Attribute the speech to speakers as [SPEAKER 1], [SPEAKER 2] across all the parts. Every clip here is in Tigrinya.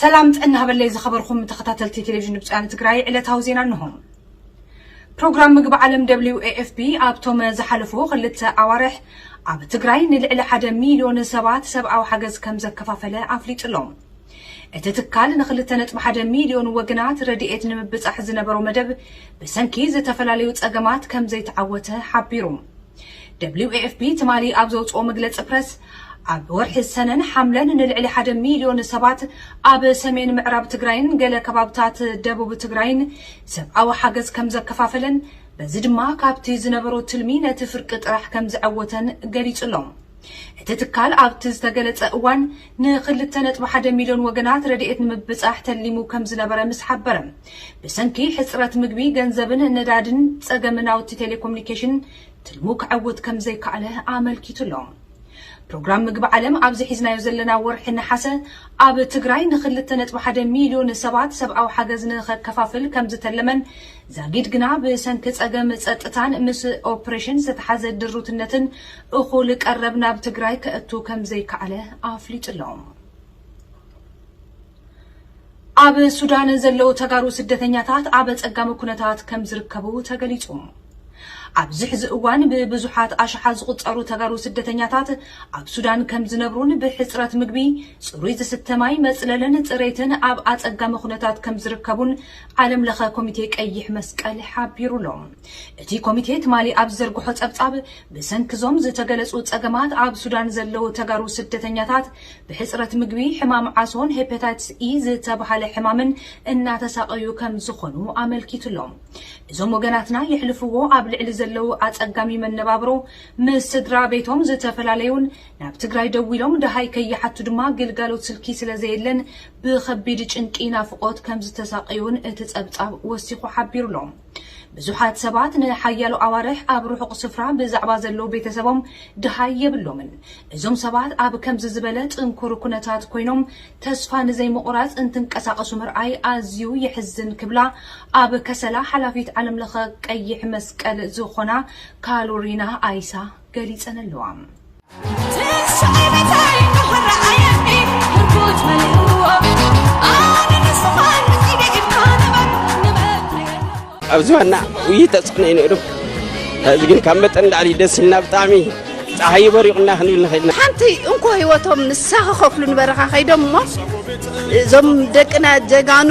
[SPEAKER 1] ሰላም ጥዕና ሃበለይ ዝኸበርኩም ተኸታተልቲ ቴሌቪዥን ድምፂ ወያነ ትግራይ ዕለታዊ ዜና እንሆ። ፕሮግራም ምግቢ ዓለም ደብሊው ኤኤፍፒ ኣብቶም ዝሓለፉ ክልተ ኣዋርሕ ኣብ ትግራይ ንልዕሊ ሓደ ሚልዮን ሰባት ሰብኣዊ ሓገዝ ከም ዘከፋፈለ ኣፍሊጡ ኣሎ። እቲ ትካል ንክልተ ነጥቢ ሓደ ሚልዮን ወገናት ረድኤት ንምብፃሕ ዝነበሮ መደብ ብሰንኪ ዝተፈላለዩ ፀገማት ከም ዘይተዓወተ ሓቢሩ። ደብሊው ኤኤፍፒ ትማሊ ኣብ ዘውጽኦ መግለጺ ፕረስ፣ ኣብ ወርሒ ሰነን ሓምለን ንልዕሊ ሓደ ሚልዮን ሰባት ኣብ ሰሜን ምዕራብ ትግራይን ገለ ከባብታት ደቡብ ትግራይን ሰብኣዊ ሓገዝ ከምዘከፋፈለን በዚ ድማ ካብቲ ዝነበሮ ትልሚ ነቲ ፍርቂ ጥራሕ ከምዘዐወተን ገሊጹ ኣሎ። እቲ ትካል ኣብቲ ዝተገለጸ እዋን ንክልተ ነጥቢ ሓደ ሚልዮን ወገናት ረድኤት ንምብጻሕ ተሊሙ ከምዝነበረ ምስ ሓበረ፣ ብሰንኪ ሕጽረት ምግቢ፣ ገንዘብን ነዳድን ጸገም ናውቲ ቴሌኮሙኒኬሽን ትልሙ ከዐውት ከምዘይከኣለ ኣመልኪቱ ኣሎ። ፕሮግራም ምግቢ ዓለም ኣብዚ ሒዝናዮ ዘለና ወርሒ ነሓሰ ኣብ ትግራይ ንክልተ ነጥቢ ሓደ ሚልዮን ሰባት ሰብኣዊ ሓገዝ ንኸከፋፍል ከምዝተለመን ዛጊድ ግና ብሰንኪ ጸገም ጸጥታን ምስ ኦፕሬሽን ዝተተሓዘ ድሩትነትን እኹል ቀረብ ናብ ትግራይ ከእቱ ከምዘይከኣለ ኣፍሊጡ ኣሎ። ኣብ ሱዳን ዘለዉ ተጋሩ ስደተኛታት ኣብ ኣፀጋሚ ኩነታት ከም ዝርከቡ ተገሊፁ። ኣብዚ ሕዚ እዋን ብብዙሓት ኣሽሓት ዝቑፀሩ ተጋሩ ስደተኛታት ኣብ ሱዳን ከም ዝነብሩን ብሕፅረት ምግቢ፣ ፅሩይ ዝስተ ማይ፣ መፅለልን ፅሬትን ኣብ ኣፀጋሚ ኩነታት ከም ዝርከቡን ዓለም ለኸ ኮሚቴ ቀይሕ መስቀል ሓቢሩ ኣሎ። እቲ ኮሚቴ ትማሊ ኣብ ዝዘርግሖ ፀብፃብ ብሰንኪ እዞም ዝተገለፁ ፀገማት ኣብ ሱዳን ዘለዉ ተጋሩ ስደተኛታት ብሕፅረት ምግቢ፣ ሕማም ዓሶን ሄፐታይትስ ኢ ዝተብሃለ ሕማምን እናተሳቐዩ ከም ዝኾኑ ኣመልኪቱ'ሎ። እዞም ወገናትና የሕልፍዎ ኣብ ልዕሊ ዘለዉ ኣፀጋሚ መነባብሮ ምስ ስድራ ቤቶም ዝተፈላለዩን ናብ ትግራይ ደዊሎም ደሃይ ከይሓቱ ድማ ግልጋሎት ስልኪ ስለዘየለን ብኸቢድ ጭንቂ ናፍቖት ከም ዝተሳቐዩን እቲ ፀብፃብ ወሲኹ ሓቢሩ'ሎ። ብዙሓት ሰባት ንሓያሎ ኣዋርሕ ኣብ ርሑቕ ስፍራ ብዛዕባ ዘለዉ ቤተሰቦም ደሃይ የብሎምን። እዞም ሰባት ኣብ ከምዚ ዝበለ ጽንኩር ኵነታት ኰይኖም ተስፋ ንዘይምቝራጽ እንትንቀሳቐሱ ምርኣይ ኣዝዩ የሕዝን ክብላ ኣብ ከሰላ ሓላፊት ዓለምለኸ ቀይሕ መስቀል ዝዀና ካሎሪና ኣይሳ ገሊጸን ኣለዋ።
[SPEAKER 2] ኣብ ዝባና ውይ ተፅዕኖ እዩ ነይሩ እዚ ግን ካብ መጠን ላዕሊ ደስ ኢልና ብጣዕሚ ፀሓይ በሪቑና ክንብል ንኽእል ሓንቲ እንኮ ህይወቶም
[SPEAKER 3] ንሳ ክኸፍሉ ንበረኻ ከይዶም እሞ እዞም ደቅና ጀጋኑ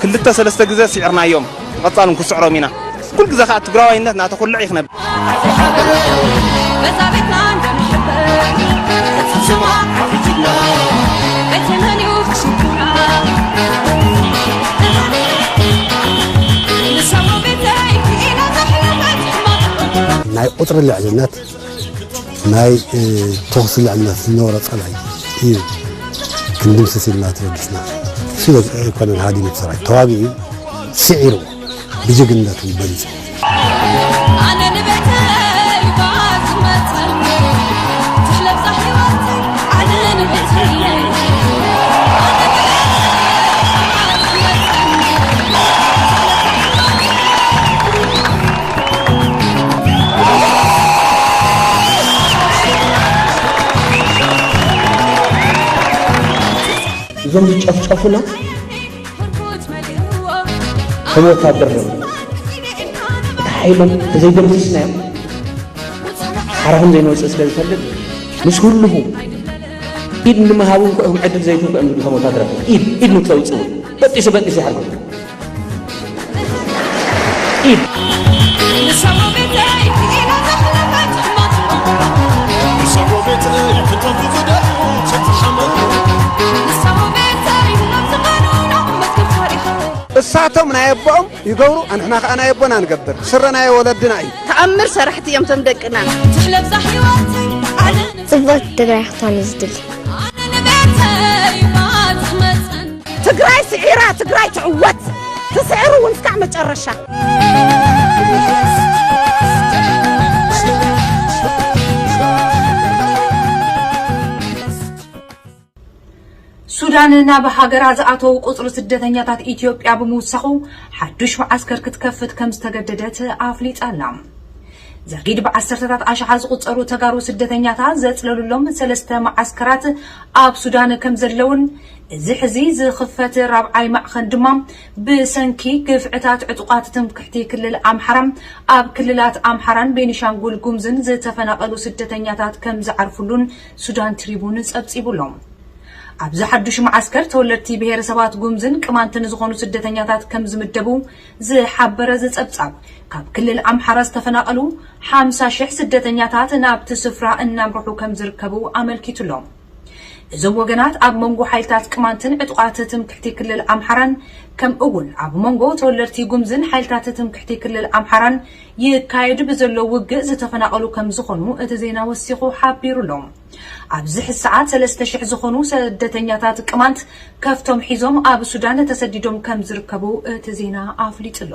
[SPEAKER 4] ክልተ ሰለስተ ግዘ ሲዕርናዮም ብቀፃሉ ን ክስዕሮም ኢና ኩሉ ግዘ ካዓ ትግራዋይነት ናተኩልዕ እዩ ክነብ በዛ ቤትና እንደንሕበር ቅፅል ሽማ ሓፊትና ኣይተመን እዩ
[SPEAKER 5] ክስኩና ንሰሞ ቤተይ ክኢላ ዘሕለፈት ሕማቕ ናይ ቁፅሪ ልዕልነት ናይ ተኹሲ ልዕልና ዝነበሮ ጸላኢ እዩ ክንድምስስ ኢልና ተበጊስና ሽለ ኣይኮነን ሃዲሙ ሰራዊት ተዋጊኡ ስዒሩ ብጅግንነቱ በሊጹ
[SPEAKER 6] እዞም ዝጨፍጨፉና ከም ወታደር ነ እቲ ሓይሎም ተዘይደምስስናዮም ሓራኹም ዘይንወፅእ ስለ ዝፈልጥ ምስ ኩልኹ ኢድ ንምሃብ እውን ክኦም ዕድል ዘይትንኩ እዮም ዝብሉ ከም ወታደራት ኢድ ኢድ ንክተውፅኡ በጢሱ በጢሱ ይሓርኩም
[SPEAKER 5] እሳቶም ናይ ኣቦኦም ይገብሩ ኣንሕና ከዓ ናይ ኣቦና ንገብር ስረ ናይ ወለድና እዩ ተኣምር ሰራሕቲ እዮም
[SPEAKER 3] ቶም ደቅና
[SPEAKER 7] ፅብቕቲ
[SPEAKER 8] ትግራይ ክትኮን እዩ ዝድሊ
[SPEAKER 3] ትግራይ ስዒራ ትግራይ ትዕወት ትስዕር እውን እስካዕ መጨረሻ
[SPEAKER 1] ሱዳን ናብ ሃገራ ዝኣተዉ ቁፅሪ ስደተኛታት ኢትዮጵያ ብምውሳኹ ሓዱሽ መዓስከር ክትከፍት ከም ዝተገደደት ኣፍሊጣ ኣላ ዛጊድ ብዓሰርተታት ኣሽሓት ዝቑፀሩ ተጋሩ ስደተኛታት ዘፅለሉሎም ሰለስተ መዓስከራት ኣብ ሱዳን ከም ዘለውን እዚ ሕዚ ዝኽፈት ራብዓይ ማዕኸን ድማ ብሰንኪ ግፍዕታት ዕጡቓት ትምክሕቲ ክልል ኣምሓራ ኣብ ክልላት ኣምሓራን ቤኒሻንጉል ጉምዝን ዝተፈናቐሉ ስደተኛታት ከም ዝዓርፍሉን ሱዳን ትሪቡን ፀብፂቡ ኣሎ። ኣብዚ ሓዱሽ መዓስከር ተወለድቲ ብሄረሰባት ጉምዝን ቅማንትን ዝኾኑ ስደተኛታት ከም ዝምደቡ ዝሓበረ እዚ ፀብፃብ ካብ ክልል ኣምሓራ ዝተፈናቐሉ ሓምሳ ሽሕ ስደተኛታት ናብቲ ስፍራ እናምርሑ ከም ዝርከቡ ኣመልኪቱ ኣሎ። እዞም ወገናት ኣብ መንጎ ሓይልታት ቅማንትን ዕጡቓት ትምክሕቲ ክልል ኣምሓራን ከም እውን ኣብ መንጎ ተወለድቲ ጉምዝን ሓይልታት ትምክሕቲ ክልል ኣምሓራን ይካየድ ብዘሎ ውግእ ዝተፈናቐሉ ከም ዝኾኑ እቲ ዜና ወሲኹ ሓቢሩ ኣሎ። ኣብዚ ሕዚ ሰዓት ሰለስተ ሽሕ ዝኾኑ ሰደተኛታት ቅማንት ከፍቶም ሒዞም ኣብ ሱዳን ተሰዲዶም ከም ዝርከቡ እቲ ዜና ኣፍሊጡ ኣሎ።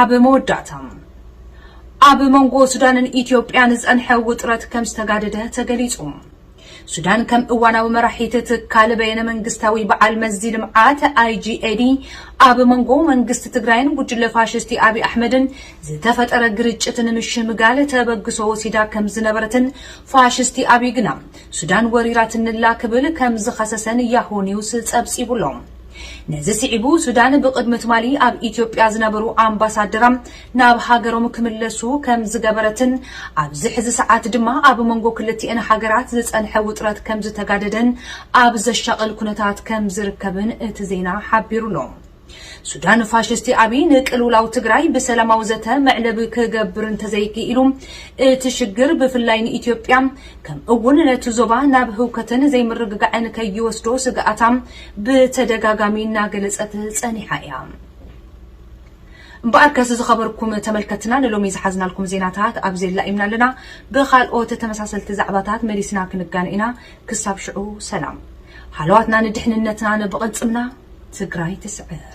[SPEAKER 1] ኣብ መወዳእታ፣ ኣብ መንጎ ሱዳንን ኢትዮጵያን ዝጸንሐ ውጥረት ከም ዝተጋደደ ተገሊጹ። ሱዳን ከም እዋናዊ መራሒት ትካል በየነ መንግስታዊ በዓል መዚ ልምዓት፣ IGAD፣ ኣብ መንጎ መንግስቲ ትግራይን ጉጅለ ፋሽስቲ ኣብይ ኣሕመድን ዝተፈጠረ ግርጭት ንምሽምጋል ተበግሶ ወሲዳ ከም ዝነበረትን ፋሽስቲ ኣብይ ግና ሱዳን ወሪራትንላ ክብል ከም ዝኸሰሰን ያሆ ኒውስ ጸብጺቡ'ሎ። ነዚ ስዒቡ ሱዳን ብቕድሚ ትማሊ ኣብ ኢትዮጵያ ዝነበሩ ኣምባሳደራ ናብ ሃገሮም ክምለሱ ከምዝገበረትን ኣብዚ ሕዚ ሰዓት ድማ ኣብ መንጎ ክልቲኤን ሃገራት ዝፀንሐ ውጥረት ከምዝተጋደደን ኣብ ዘሻቕል ኩነታት ከምዝርከብን እቲ ዜና ሓቢሩ'ሎ። ሱዳን ፋሽስቲ ኣብይ ንቅልውላው ትግራይ ብሰላማዊ ዘተ መዕለቢ ክገብር እንተዘይክኢሉ እቲ ሽግር ብፍላይ ንኢትዮጵያ ከምእውን ነቲ ዞባ ናብ ህውከትን ዘይምርግጋዕን ከይወስዶ ስግኣታ ብተደጋጋሚ እናገለጸት ጸኒሓ ኢያ። እምበኣርከስ ዝኸበርኩም ተመልከትትና ንሎሚ ዝሓዝናልኩም ዜናታት ኣብዚ ኣላኢምና ኣለና። ብኻልኦት ተመሳሰልቲ ዛዕባታት መሊስና ክንገናኝ ኢና። ክሳብ ሽዑ ሰላም። ሃለዋትና ንድሕንነትናን ብቕልጽምና ትግራይ ትስዕር!